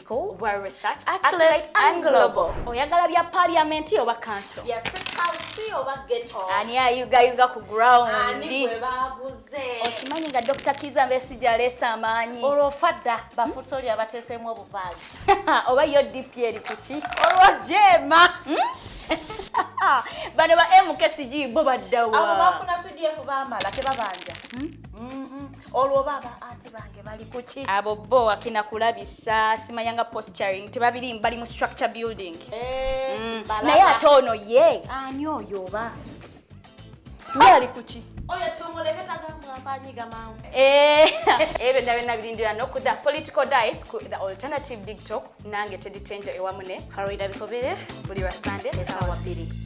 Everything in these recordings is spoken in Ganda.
school, well research, accolades, and global. Oyagala bya parliament oba council? Yes, to house oba ghetto. Ani ayuga yuga ku ground. Ani gwe babuze. Okimanyi nga Dr. Kiza Besigye aleese amaanyi. Olwo fadda bafuta oli abateeseemu obuvaazi. Oba yo DP eri ku ki? Olwo jeema. Hmm? Bano ba MKCG bo baddawa. Abo bafuna CDF baamala tebabanja. Hmm? Mm-hmm. olwo baba ati bange bali kuki abo bo wakina kulabisa simayanga posturing tebabiri bali mu structure building eh, mm. naye ate ono ye ani oyo oba naye ali kuki oyo tumuleke tagambwa mpanyiga mawe eh, ebyo nda byonna birindira nokuda political dice ku the alternative tiktok nange teditenja ewamu ne farida bikobere buli lwa sunday esawa bbiri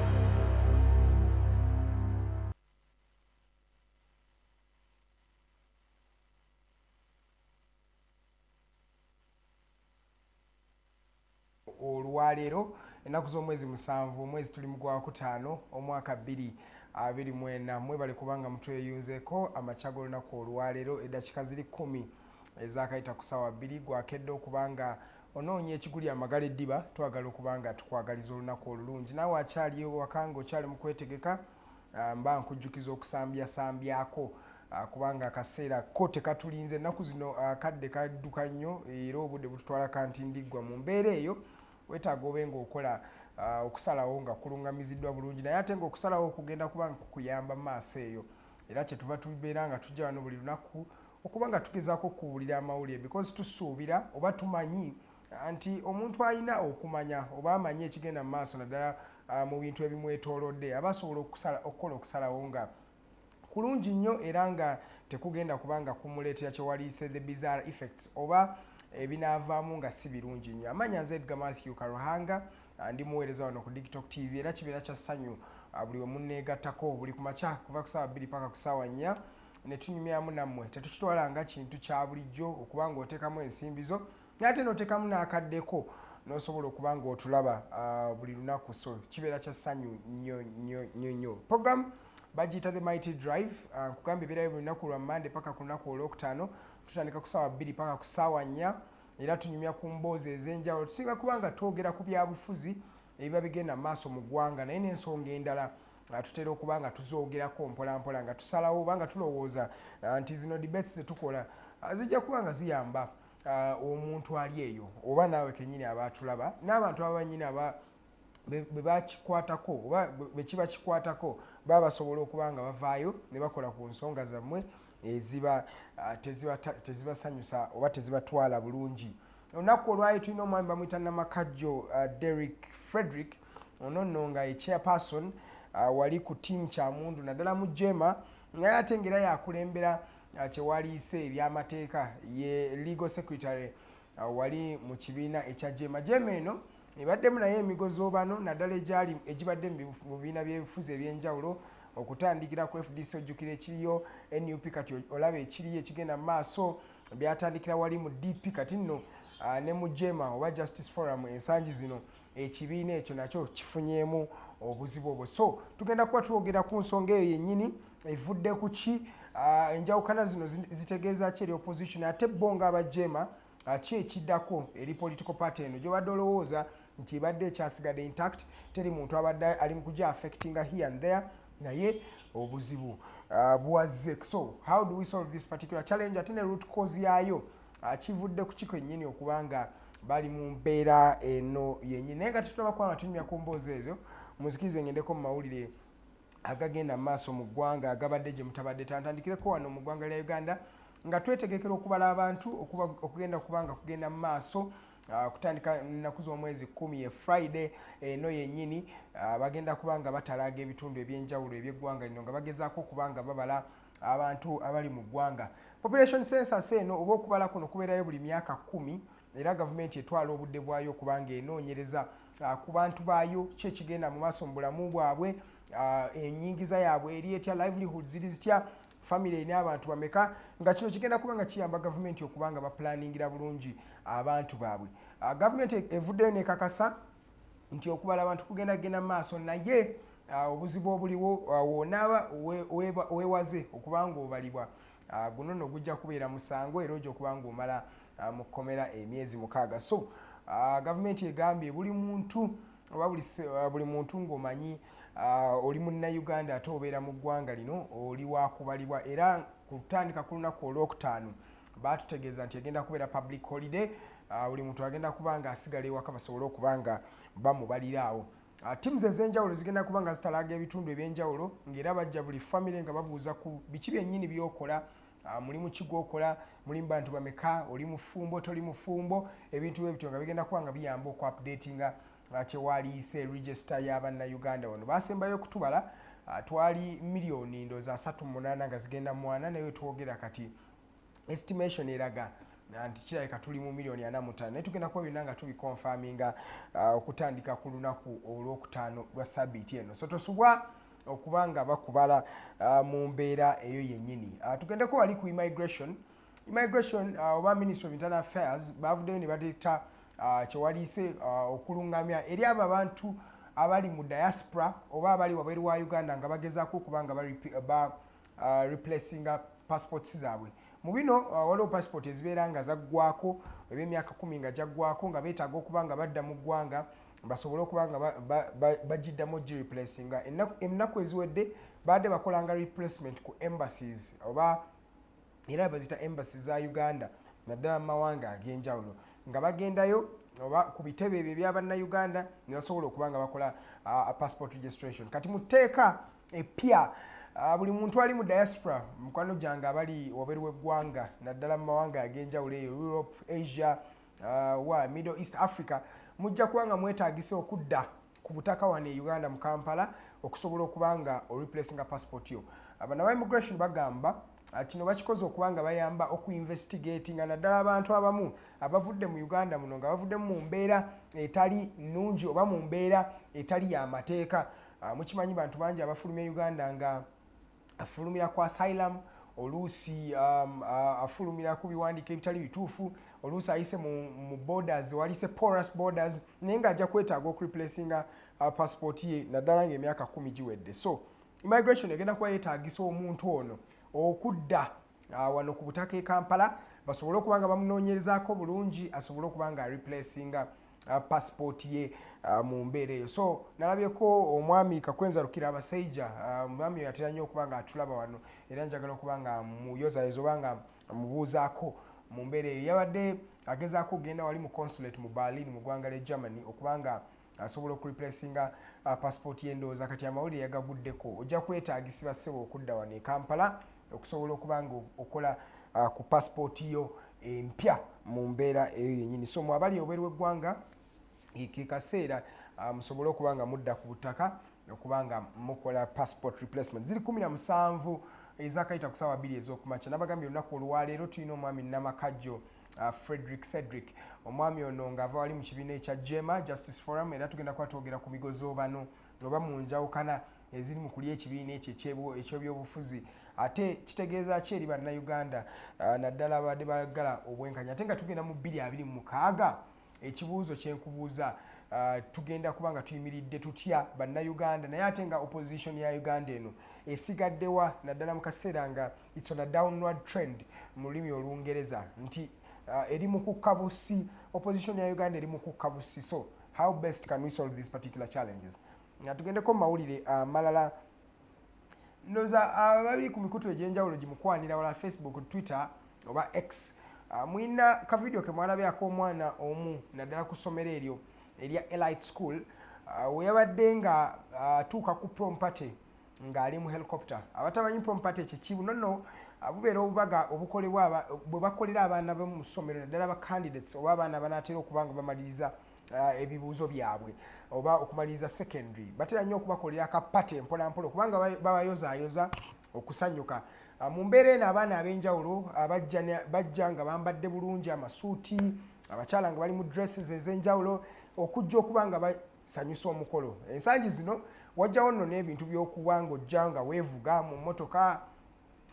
olwaleero ennaku z'omwezi musanvu omwezi tuli mu gwakutaano omwaka bbiri abiri mwena mwebale kubanga mutweyunzeko amakya g'olunaku olwaleero eddakiika ziri kkumi ezakayita ku saawa bbiri gwakedde okubanga onoonya ekiguli amagala eddiba twagala okuba nga tukwagaliza olunaku olulungi naawe akyali ewaka nga okyali mu kwetegeka ah, mba nkujjukiza okusambyasambyaako ah, kubanga akaseera ko tekatulinze ennaku zino ah, kadde kadduka nnyo era obudde bututwala kanti ndiggwa mu mbeera eyo wetaaga obe nga okola okusalawo nga kulungamiziddwa bulungi naye ate nga okusalawo okugenda kubanga kukuyamba mu maaso eyo era kyetuva tubeera nga tujja wano buli lunaku okuba nga tugezaako okubuulira amawulire because tusuubira oba tumanyi ah, nti omuntu alina okumanya oba amanyi ekigenda mu maaso naddala ah, mu bintu ebimwetoolodde aba asobola okukola okusalawo nga kulungi nnyo era nga tekugenda kuba nga kumuleetera kyewaliise the bizarre effects oba ebinaavaamu nga si birungi nnyo amanya nze edga matthew karuhanga ah, ndi muweereza wano ku diktok tv era kibeera kya ssanyu buli wemunneegattako buli ku makya kuva ku saawa bbiri paka ku saawa nnya ne tunyumyamu nammwe tetukitwala nga kintu kya bulijjo okuba ng'oteekamu ensimbi zo naate n'oteekamu n'akaddeko n'osobola okuba ng'otulaba ah, buli lunaku so kibeera kya ssanyu nnyo nnyo nnyo nnyo program bagiyita the mighty drive ah, nkugamba ebeerayo buli lunaku lwa mande paka ku lunaku olwokutaano tutandika ku saawa bbiri paka ku saawa nnya era tunyumya ku mboozi ez'enjawulo tusinga kuba nga twogera ku byabufuzi ebiba bigenda mu maaso mu ggwanga naye n'ensonga endala ah, tutera okuba nga tuzoogerako mpolampola nga tusalawo oba nga tulowooza ah, nti zino debates zetukola ah, zijja kuba nga ziyamba omuntu ali eyo oba naawe kenyini aba atulaba n'abantu aba banyini aba bwe bakikwatako oba bwe kiba kikwatako baba basobola okuba nga bavaayo ne bakola ku nsonga zammwe eziba tezibasanyusa oba tezibatwala bulungi olunaku olwali tulina omwami bamuyita namakajjo uh, derrick frederick ono nno nga ye chairperson uh, wali ku tiamu kyamundu naddala mu jema naye ate ngaera yakulembera uh, kyewaliise ebyamateeka ye legal secretary uh, wali mu kibiina ekya jema jema eno ebaddemu naye emigozobano naddala egyali egibadde mu bibiina byebifuzi ebyenjawulo okutandikira ku fdc ojjukira ekiriyo nup kati olaba ekiriyo ekigenda mu maaso byatandikira wali mu dp kati nno uh, ne mu jema oba justice forum ensangi zino ekibiina ekyo nakyo kifunyeemu obuzibu obwo so tugenda kuba twogera ku nsonga eyo yennyini evudde ku ki uh, enjawukana zino zitegeeza ki eri opposition ate bo nga abajema uh, ki ekiddako eri political party eno gyobadde olowooza nti ebadde ekyasigadde intact teri muntu abadde ali mu kuja affectinga here and there naye obuzibu uh, bwazze so how do we solve this particular challenge ate ne root cause yaayo uh, kivudde ku kiko ennyini okuba nga bali mu mbeera eno yennyini naye nga tetulaba kuba nga tunyumya ku mboozi ezo muzikirize ngendeko mu mawulire agagenda mu maaso mu ggwanga agabadde gye mutabadde tantandikireko wano mu ggwanga lya uganda nga twetegekera okubala abantu okugenda kuba nga kugenda mu maaso ah, kutandika nnaku z'omwezi kumi ye friday eno yennyini ah, bagenda kuba nga batalaaga ebitundu eby'enjawulo eby'eggwanga lino nga bagezaako okuba nga babala abantu abali mu ggwanga population census eno oba okubala kuno kubeerayo buli myaka kumi era gavumenti etwala obudde bwayo okuba nga enoonyereza ah, ku bantu baayo ki ekigenda mu maaso mu bulamu bwabwe ah, enyingiza yaabwe eri etya livelihood ziri zitya famiry erina abantu bameka nga kino kigenda kuba nga kiyamba gavumenti okuba nga bapulaningira bulungi abantu baabwe ah, gavumenti evuddeyo nekakasa nti okubala abantu kugenda genda mu maaso naye obuzibu obuliwo wonaaba wewaze okuba nga obalibwa guno no gujja kubeera musango era oja okuba nga omala ah, mu kkomera emyezi mukaaga so ah, gavumenti egambye buli muntu oba ah, buli muntu ng'omanyi oli munnayuganda ate obeera mu ggwanga lino oli wakubalibwa era ku kutandika ku lunaku olwokutaano baatutegeeza nti egenda kubeera public holiday buli muntu agenda kuba nga asigala ewaka basobole okuba nga bamubalira awo Ah, teams ezenjawulo zigenda kuba nga zitalaga ebitundu ebyenjawulo ngaera bajja buli family nga babuuza ku biki byennyini byokola Ah, mulimu ki gwokola mulimu bantu bameka oli mufumbo toli mufumbo ebintu bwe bityo nga bigenda kuba nga biyamba oku updatinga ah, kyewaliise register y'abannayuganda wano basembayo okutubala ah, twali miliyoni ndoozi asatu munaana nga zigenda mwana naye twogera kati estimation eraga nti kirabika tuli mu miliyoni ana mutaano naye tugenda kuba byonna nga tubikonfaminga okutandika ku lunaku olwokutaano lwa sabiiti eno so tosubwa okuba nga bakubala uh, mu mbeera eyo yennyini uh, tugendeko wali ku immigration immigration uh, oba ministry of internal affairs bavuddeyo ne bateeta uh, kyewaliise uh, okulungamya eri abo abantu abali mu diaspora oba abali wabweru wa uganda nga bagezaako okuba nga ba uh, replacinga passports zaabwe mu bino uh, waliwo passport ezibeera nga zaggwako ebyemyaka kumi nga gyaggwako nga beetaaga okuba nga badda mu ggwanga basobole okuba nga bagiddamu gi replacinga ennaku eziwedde baadde bakolanga replacement ku embassies oba era bazita embassy za uganda naddala mu mawanga ag'enjawulo nga bagendayo oba ku bitebe ebyo ebyabannayuganda ne basobola okuba nga bakola uh, passport registration kati mu tteeka eppya uh, buli muntu ali mu diaspora mukwano gyange abali waberu w'eggwanga naddala mu mawanga ag'enjawulo eyo europe asia uh, wa middle east africa mujja kuba nga mwetagisa okudda ku butaka wano e uganda mu kampala okusobola okuba nga oreplacinga passport yo abanawa immigration bagamba uh, kino bakikoze okuba nga bayamba okuinvestigatinga naddala abantu abamu abavudde mu uganda muno nga bavuddemu mu mbeera etali nnungi oba mu mbeera etali yamateeka uh, mukimanyi bantu bangi abafuluma e uganda nga afulumira ku asylum oluusi um, uh, afulumira ku biwandiiko ebitali bituufu oluusi ayise mu, mu borders walise porous borders naye nga ajja kwetaaga okureplacinga uh, passport ye naddala nga emyaka kumi giwedde so immigration egenda kuba yetaagisa omuntu ono okudda ah, wano ku butaka e kampala basobole okuba nga bamunoonyerezaako bulungi asobole okuba nga replacinga ah, passport ye ah, mu mbeera eyo so nalabyeko omwami kakwenza lukira abasaija omwami oyo atera nnyo okuba nga atulaba wano era njagala okuba nga muyozayoza oba nga mubuuzaako mu mbeera eyo yabadde agezaako okugenda wali mu consulate mu berlin mu ggwanga lya germany okubanga asobola okureplacinga uh, passport yendowooza kati amawulire yagaguddeko ojja kwetaagisiba ssebo okudda wano e kampala okusobola okuba nga okola uh, ku passport yo empya mu mbeera eyo yenyini so mu abali obweru w'eggwanga ke kaseera uh, musobole okuba nga mudda ku butaka okuba nga mukola passport replacement ziri kumi na musanvu ezakayita ku saawa bbiri ez'okumakya nabagambye olunaku olwaleero tulina omwami namakajjo Uh, Frederick Cedric omwami ono ng'ava wali mu kibiina ekya Jema Justice Forum era tugenda kuba twogera ku bigozoobano oba mu njawukana eziri mu kulya ekibiina ekyo eky'ebyobufuzi ate kitegeeza ki eri bannayuganda uh, naddala abadde bagala obwenkanya ate nga tugenda mu bbiri abiri mu mukaaga ekibuuzo kyenkubuuza uh, tugenda kuba nga tuyimiridde tutya bannayuganda naye ate nga opposition ya uganda eno esigaddewa naddala mu kaseera nga its on a downward trend mu lulimi olungereza nti uh, eri mu kukka busi opposition ya uganda eri mu kukka busi so how best can we solve these particular challenges nga tugendeko mu mawulire amalala uh, ndoza ababiri ku mikutu egyenjawulo gimukwanira wala facebook twitter oba x ah, mulina kavidiyo kemwalabye ak'omwana omu naddala ku ssomero eryo erya elite school ah, weyabadde nga ah, atuuka ku prom party ng'ali mu helicopter abatamanyi prom party kyekibu nono bubeera obubaga obukolebwa bwe bakolera abaana bo mu ssomero naddala ba candidates oba abaana banaatera okuba nga bamaliriza Ah, ebibuuzo byabwe oba okumaliriza secondary batera nnyo okubakolera akapate mpolampola kubanga babayozaayoza okusanyuka ah, mu mbeera eno abaana ab'enjawulo ah, bajja nga bambadde bulungi amasuuti abakyala nga bali mu dresses ez'enjawulo okujja okuba nga basanyusa omukolo ensangi zino wajjawo nno n'ebintu by'okuba ng'ojja nga weevuga mu mmotoka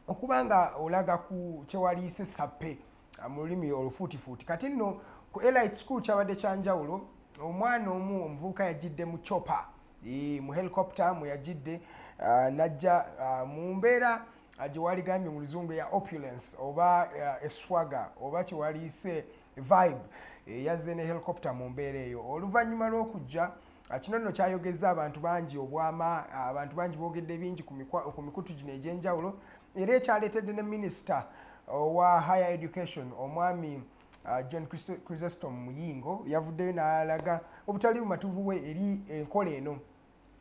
okuba nga olaga ku kyewaliise sappe ah, mu lulimi olufuutifuuti kati nno ku elite school kyabadde kyanjawulo omwana omu omuvubuka yajjidde mu chopa mu helicopter mwe yajjidde ah, najja ah, mu mbeera gyewaligambye mu luzungu ya opulence oba eswaga oba kyewaliise vibe eh, yazze ne helicopter mu mbeera eyo oluvannyuma lw'okujja Ah, kino nno kyayogezza abantu bangi obwama ah, abantu bangi boogedde bingi ku mikutu gino egy'enjawulo era ekyaleetedde ne minisita owa higher education omwami uh, john chrysestom muyingo yavuddeyo n'alaga obutali bumatuvu bwe eri enkola eno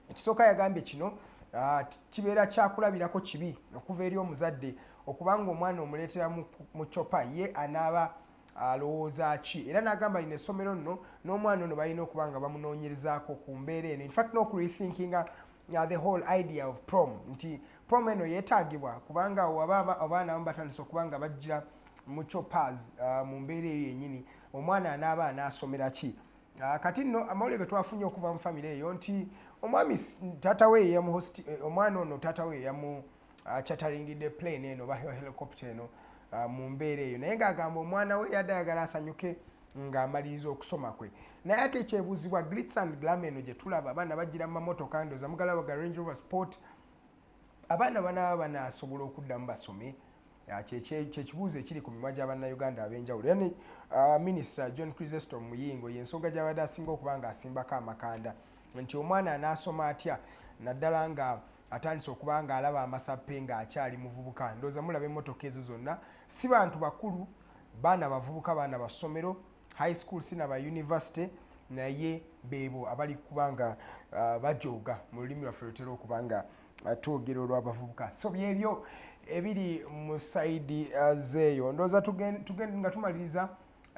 ekisooka yagambye kino uh, kibeera kyakulabirako kibi okuva eri omuzadde okubanga omwana omuleetera mu copa ye anaaba alowooza ki era n'agamba lino essomero nno n'omwana ono balina okuba nga bamunoonyerezaako ku mbeera eno infact n'okurethinkinga uh, the whole idea of prom nti promo eno yeetagibwa kubanga awo aba abaana abamu batandise okuba nga bajja mu choppers uh, mu mbeera eyo yennyini omwana anaaba anaasomera ki uh, kati nno amawulire ge twafunye okuva mu famire eyo nti omwami taata we yeyamuhosti eh, omwana ono taata we yeyamu uh, chataringidde plane eno oba helicopter eno uh, mu mbeera eyo naye ng'agamba omwana we yadde ayagala asanyuke ng'amaliriza okusoma kwe naye ate ekyebuuzibwa glitz and glam eno gye tulaba abaana bagira mu mamotoka ndoza mugala waga range rover sport abaana banaaba banasobola okuddamu basome ah, kyekibuuzo ekiri ku mimwa gya bannayuganda ab'enjawulo era ne ah, minisita john crisestom muyingo yensonga gyabadde asinga okuba nga asimbako amakanda nti omwana anaasoma atya naddala nga atandise okuba nga alaba amasappe nga akyali muvubuka ndooza mulaba emmotoka ezo zonna si bantu bakulu baana bavubuka baana bassomero high school sinaba university naye beebo abali kuba nga uh, bajooga mu lulimi lwaffe lutera okuba nga uh, twogera olw'abavubuka so byebyo ebiri mu saidi uh, zeeyo ndowooza nga tumaliriza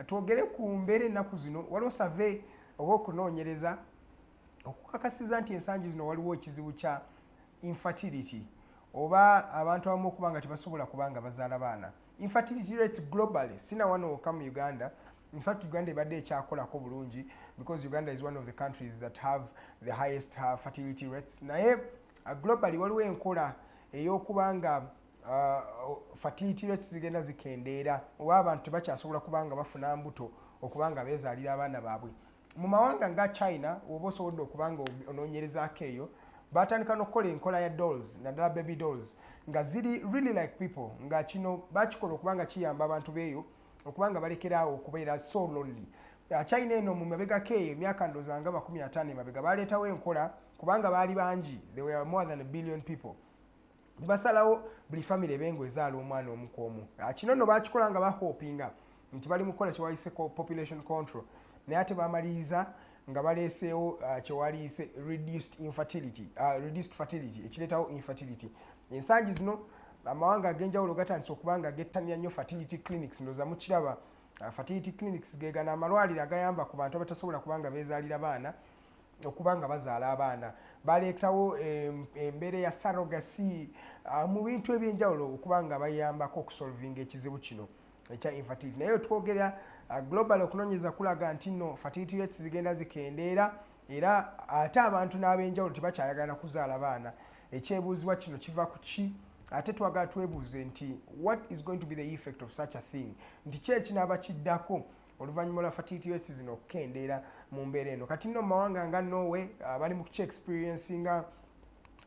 twogere ku mbeera ennaku zino waliwo save oba okunoonyereza okukakasiza nti ensangi zino waliwo ekizibu kya infertility oba abantu abamu okuba nga tebasobola kuba nga bazaala baana infertility rates globally sina wano wokka mu uganda in fact uganda ebadde ekyakolako bulungi because uganda is one of the countries that have the highest uh, fertility rates naye uh, globally waliwo enkola eyokuba nga uh, fertility rates zigenda zikendeera oba abantu tebakyasobola kuba nga bafuna mbuto okuba nga bezaalira abaana baabwe mu mawanga nga china woba osobodde okuba nga ononyerezaako eyo batandika nokukola enkola ya dolls naddala baby dolls nga ziri really like people nga kino bakikola okuba nga kiyamba abantu beeyo okuba nga balekeraawo okubeera so lonely uh, china eno mu mabegako eyo emyaka ndoza nga makumi ataano emabega baleetawo enkola kubanga baali bangi they were more than a billion people basalawo buli famire ebe nga ezaala omwana omu ku omu ah, kino no bakikola nga bahopinga nti bali mukukola kyewayise population control naye ate bamaliriza nga baleeseewo ah, kyewaliyise reduced infertility ah, reduced fertility ekireetawo infertility ensangi zino amawanga ag'enjawulo gatandise okuba nga gettanira nnyo fertility clinics ndoza mukiraba fertility clinics gegana amalwaliro agayamba ku bantu abatasobola kuba nga beezaalira baana okuba nga bazaala abaana baleetawo embeera ya sarogasi ah, mu bintu ebyenjawulo okuba nga bayambako okusolvinga ekizibu kino ekya infertility naye twogera ah, global okunonyeza kulaga nti no fertility rates zigenda zikendeera era ate abantu n'abenjawulo tebakyayagala kuzaala baana ekyebuuzibwa kino kiva ku ki ate twagala twebuuze nti what is going to be the effect of such a thing nti kyekinaaba kiddako oluvannyuma lwa fertility rates zino okukendeera mu mbeera eno kati nno mu mawanga nga norway uh, bali mu kuki experience nga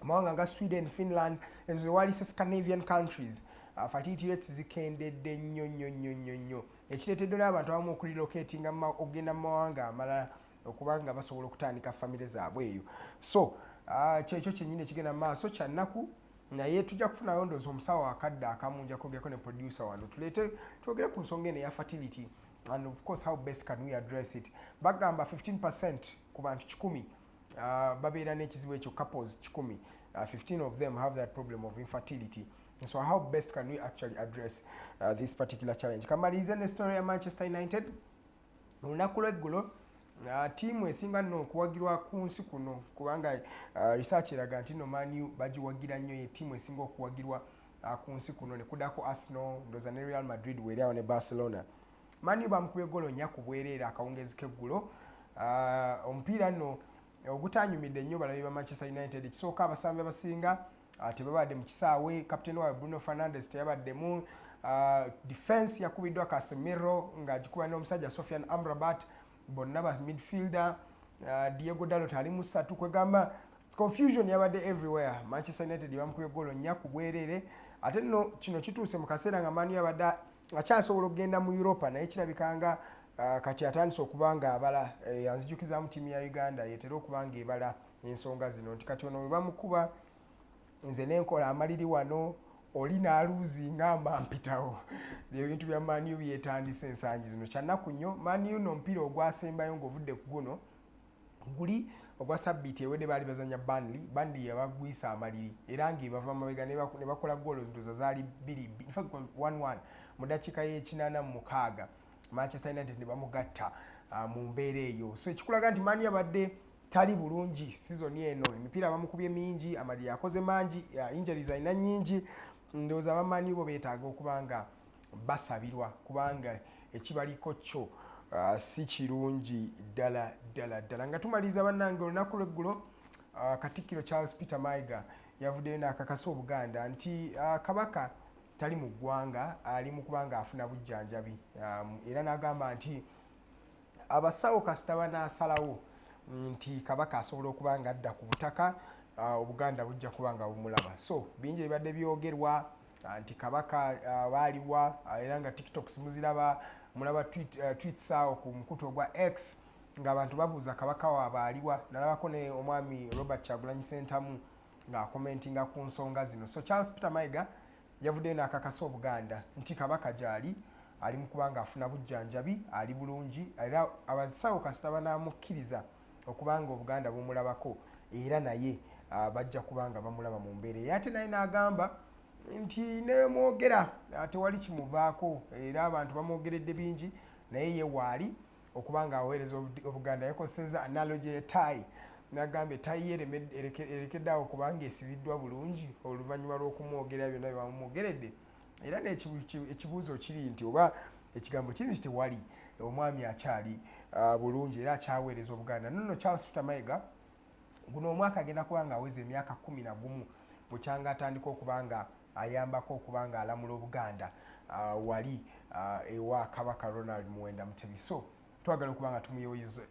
amawanga nga sweden finland ezo zewali se scandinavian countries uh, fertility rates zikendedde nnyo nnyo nnyo nnyo nnyo ekireetedde n'abantu abamu okurelocatinga okugenda mu mawanga amalala okuba nga basobola okutandika famire zaabwe eyo so uh, kyekyo kyenyini ekigenda mu maaso kyannaku naye tujja kufunayo ndoozi omusawo akadde akamu nja kwogerako ne producer wano tuleete twogere ku nsonga eno eya fertility and of course how best can we address it bagamba 15 percent ku bantu kikumi uh, babeera n'ekizibu ekyo couples kikumi uh, 15 of them have that problem of infertility so how best can we actually address uh, this particular challenge kamalirize ne story ya manchester united olunaku lweggulo uh, tiimu esinga nno okuwagirwa ku nsi kuno kubanga uh, research eraga nti no manu bagiwagira nnyo ye tiimu esinga okuwagirwa uh, ku nsi kuno nekudako arsenal ndoza ne real madrid weeri awo ne barcelona manu bamukubye golo nya ku bwereere akawungezi keggulo uh, omupiira nno ogutanyumidde nnyo balabi ba manchester united kisooka abasambi abasinga ah, tebabadde mu kisaawe kapiteeni waabwe bruno fernandes teyabaddemu ah, defense yakubiddwa casemiro ng'agikuba n'omusajja sofian amrabat bonna ba midfielder ah, diego dalot ali mu ssatu kwegamba confusion yabadde everywhere manchester united bamukubye golo nnya ku bwereere ate nno kino kituuse mu kaseera nga manu yabadde akyasobola okugenda mu europa naye kirabika nga uh, kati atandise okuba nga abala eh, anzijukizamu tiimu ya uganda yetera okuba nga ebala ensonga zino nti kati ono webamukuba nze nenkola amaliri wano oli naluuzi nga mampitawo byebintu bya maniu byetandise ensangi zino kyannaku nnyo maniu no omupiira ogwasembayo ngaovudde ku guno guli ogwa sabbiiti ewedde baali bazanya banli banli yabagwisa amaliri era ngaebava mabega nebakola goolo ndoza zaali bbiri infact 11 mu dakiika y'ekinaana mu mukaaga manchester united ne bamugatta uh, mu mbeera eyo so ekikulaga nti mani abadde tali bulungi sizoni eno emipiira bamukubye mingi amaliri akoze mangi uh, injuries alina nyingi ndowooza abamanyi bo beetaaga okuba nga basabirwa kubanga ekibaliko kyo uh, si kirungi ddala ddala ddala nga tumaliriza bannange olunaku lweggulo uh, katikkiro charles peter maiga yavuddeyo n'akakasa obuganda nti uh, kabaka tali mu ggwanga ali mu kubanga afuna bujjanjabi um, era n'agamba nti abasawo kasita banaasalawo nti kabaka asobola okuba nga adda ku butaka uh, obuganda bujja kuba nga bumulaba so bingi ebibadde byogerwa uh, nti kabaka uh, baaliwa era nga tiktok simuziraba mulaba tweets awo ku mukutu ogwa x ng'abantu babuuza kabaka waabwe aliwa nalabako ne omwami robert kyagulanyi sentamu ng'akomentinga ku nsonga zino so charles peter maiga yavuddeyo n'akakasa obuganda nti kabaka gyali ali mu kubanga afuna bujjanjabi ali bulungi era abasawo kasita banaamukkiriza okubanga obuganda bumulabako era naye ah, bajja kubanga bamulaba mu mbeera eyo ate naye n'agamba nti nemwogera ah, tewali kimuvaako era abantu bamwogeredde bingi naye ye waali okuba nga aweereza obuganda yakoseza analogy etayi nagamba etayi erekedde awo kubanga esibiddwa bulungi oluvannyuma lw'okumwogera byonna byebamumwogeredde era nekibuuzo kiri nti oba ekigambo kiri nti tewali omwami akyali ah, bulungi era akyaweereza obuganda nono charles peter mayiga guno omwaka agenda kuba nga aweza emyaka kumi na gumu bukyanga atandika okuba nga ayambako okuba nga alamula obuganda uh, wali uh, ewa kabaka ronald muwenda mutebi so twagala okuba nga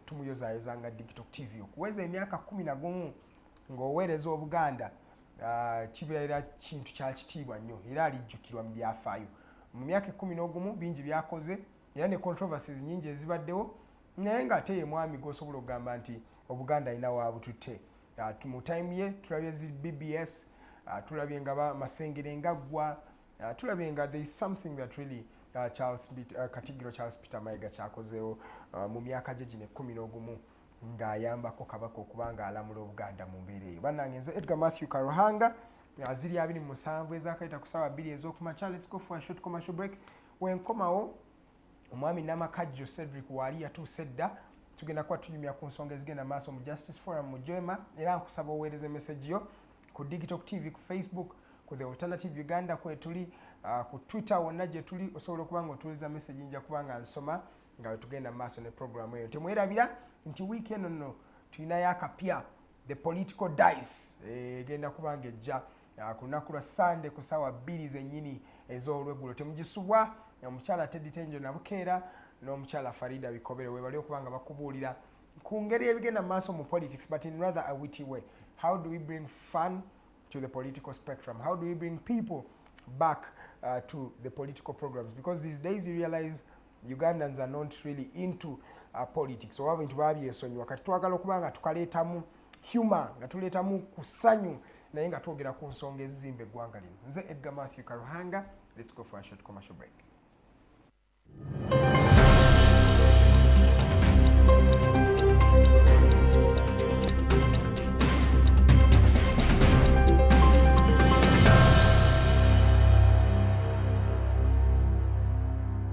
tumuyozayoza nga digital tv okuweza emyaka kumi na gumu ng'oweereza obuganda uh, kibeera kintu kya kitiibwa nnyo era alijjukirwa mu byafaayo mu myaka ekumi n'ogumu bingi byakoze era ne controversies nyingi ezibaddewo naye nga ate ye mwami gwosobola okugamba nti obuganda alina wabututte ah, mu time ye tulabye zi bbs ah, tulabye nga masengere ngaggwa ah, tulabye nga there is something that really uh, charles uh, katigiro charles peter mayiga kyakozeewo uh, mu myaka gye gino ekkumi n'ogumu ng'ayambako kabaka okuba ng'alamula obuganda mu mbeera eyo bannange nze edgar matthew karuhanga aziri abiri mu musanvu ezakayita ku saawa bbiri ez'okumakya let's go for a short commercial break wenkomawo omwami namakajjo cedric waali yatuuse dda tugenda kuba tunyumya ku nsonga ezigenda maaso mu justice forum mu jema era nkusaba oweereza emesegi yo ku digital tv ku facebook ku the alternative uganda kwetuli uh, ku twitter wonna gyetuli osobola okuba nga otuuliza mesegi nja kuba nga nsoma nga wetugenda mu maaso ne programu eyo temwerabira nti wiiki eno nno tulinayo akapya the political dice eh, egenda kuba nga ejja Ah, ku lunaku lwa sande ku saawa bbiri zennyini ez'olweggulo temugisubwa omukyala teddy tenjo nabukeera n'omukyala farida bikobere webali okuba nga bakubuulira ku ngeri ebigenda mu maaso mu politics but in rather a witty way how do we bring fun to the political spectrum how do we bring people back uh, to the political programs because these days you realize ugandans are not really into uh, politics oba bintu babyesonyiwa kati twagala okuba nga tukaleetamu humor nga tuleetamu ku ssanyu naye nga twogera ku nsonga ezizimba eggwanga lino nze edgar matthew karuhanga let's go for a short commercial break